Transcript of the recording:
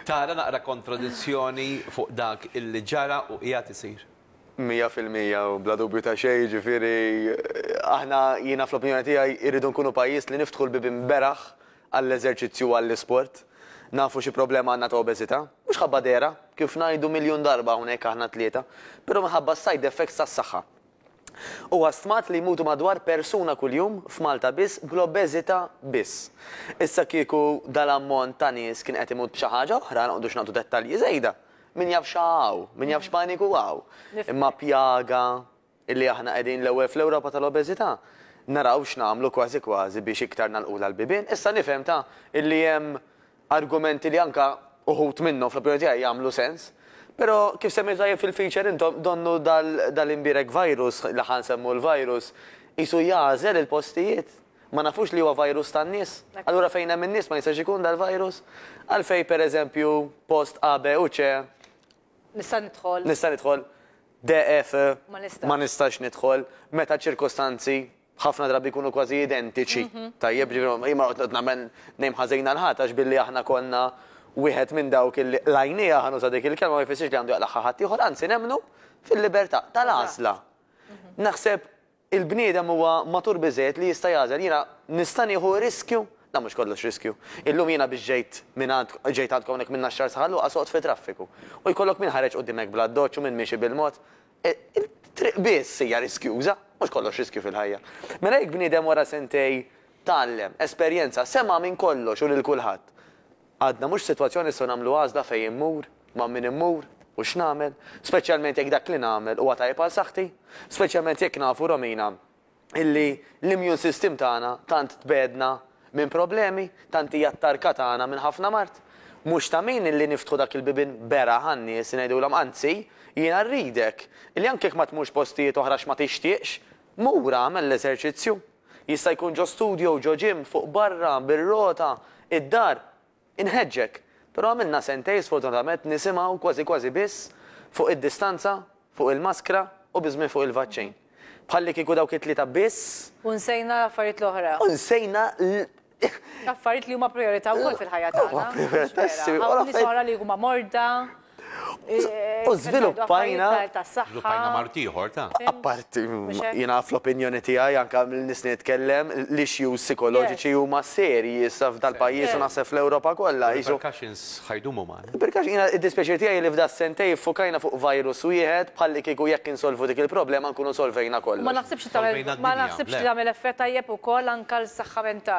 Tara naqra kontradizzjoni fuq dak illi ġara u qiegħed isir. Mija fil-mija u bla dubju ta' xejn, jiġifieri aħna jiena fl-opinjoni tiegħi irridu nkunu pajjiż li niftħu l-bibien beraħ għall-eżerċizzju u għall-isport. Nafu xi problema għandna ta' obeżità. Mhux ħabba dehra, kif ngħidu miljun darba hawnhekk aħna t-tlieta, però minħabba s-side effects tas-saħħa. Huwa stmat li jmutu madwar persuna kuljum f'Malta biss bl-obeżità biss. Issa kieku dal-ammont ta' nies kien qed imut b'xi ħaġa oħra, noqgħdux nagħtu dettalji żejda, min jaf xa hawn, min jaf x'paniku hawn. Imma pjaga li aħna qegħdin l-ewwel fl-Ewropa tal-obeżità, naraw x'nagħmlu kważi kważi biex iktar nagħlqulha l-bibien. Issa nifhem ta' illi hemm Argumenti li anke uħud minnhom, fl-opinjoni tiegħi, jagħmlu sens. Però, kif semmejtu tajjeb fil-feature intom, donnu dal-imbierek virus, li ħa nsemmu l-virus, qisu jagħżel il-postijiet. Ma nafux li huwa virus tan-nies? Allura fejn hemm in-nies ma jistax ikun dal-virus? Għalfejn, per eżempju, post A, B u C, Nista' nidħol. nista' nidħol, D, E, F, Ma nistax. ma nistax nidħol, meta ċ-ċirkostanzi ħafna drabi jkunu kważi identiċi. Tajjeb, ġifieri jien ma noqgħod nagħmel nejm ħażin għal ħadd għax billi aħna konna wieħed minn dawk illi qlajniha ħa nuża dik il-kelma ma jfissirx li għandu jaqlagħha ħaddieħor, anzi nemmnu fil-libertà tal-għażla. Naħseb il-bniedem huwa matur biżżejjed li jista' jagħżel. Jiena nista' nieħu riskju? Dan mhux kollox riskju. Illum jiena biex ġejt minn għand ġejt għandkom hawnhekk minn Naxxar sa Ħal Luqa soqgħod fit-traffiku. U jkollok min ħareġ qudiemek bl-addoċċ u min miexi bil-mod. It-triq biss hija riskjuża, mhux kollox riskju fil-ħajja. Mela jekk bniedem wara sentejn tgħallem, esperjenza, sema' minn kollox u lil kulħadd, għadna mhux f'sitwazzjoni nistgħu nagħmlu għażla fejn immur, ma' min immur u x'nagħmel, speċjalment jekk dak li nagħmel huwa tajjeb għal saħħti, speċjalment jekk nafu Romina illi l-immune system tagħna tant tbegħedna minn problemi, tant hija t-tarka tagħna minn ħafna mard. Mhux ta' min illi niftħu dak il-bibien beraħ għan-nies ngħidulhom anzi, jiena rridek li anke jekk ma tmurx postijiet oħra għax ma tixtieqx, mur agħmel l-eżerċizzju. Jista' jkun ġo studio, ġo gym, fuq barra, bir-rota, id-dar, Inħeġġek, però għamilna sentejn sfortunatament nisimgħu kważi kważi biss fuq id-distanza, fuq il-maskra u biżmien fuq il-vaċċin. Bħalli kieku dawk it-tlieta biss. U nsejna l-affarijiet l-oħra. U nsejna l. L-affarijiet li huma prijorità wkoll fil-ħajja tagħna. Huma prijorità, ssi. Hawn nies oħra li huma morda. U żviluppajna. Żviluppajna mart ieħor ta'. Apparti, jiena fl-opinjoni tiegħi anke mill-nies li nitkellem, l-issues sikoloġiċi huma serji issa f'dal-pajjiż u naħseb fl-Ewropa kollha. Repercussions ħa jdumu magħna. Repercussions, jiena id-dispjaċir tiegħi li f'das-sentejn iffukajna fuq virus wieħed bħallikieku jekk insolvu dik il-problema nkunu solvejna kollox. U ma naħsibx li tagħmel, ma naħsibx li tagħmel effett tajjeb ukoll anke għall-saħħa mentali.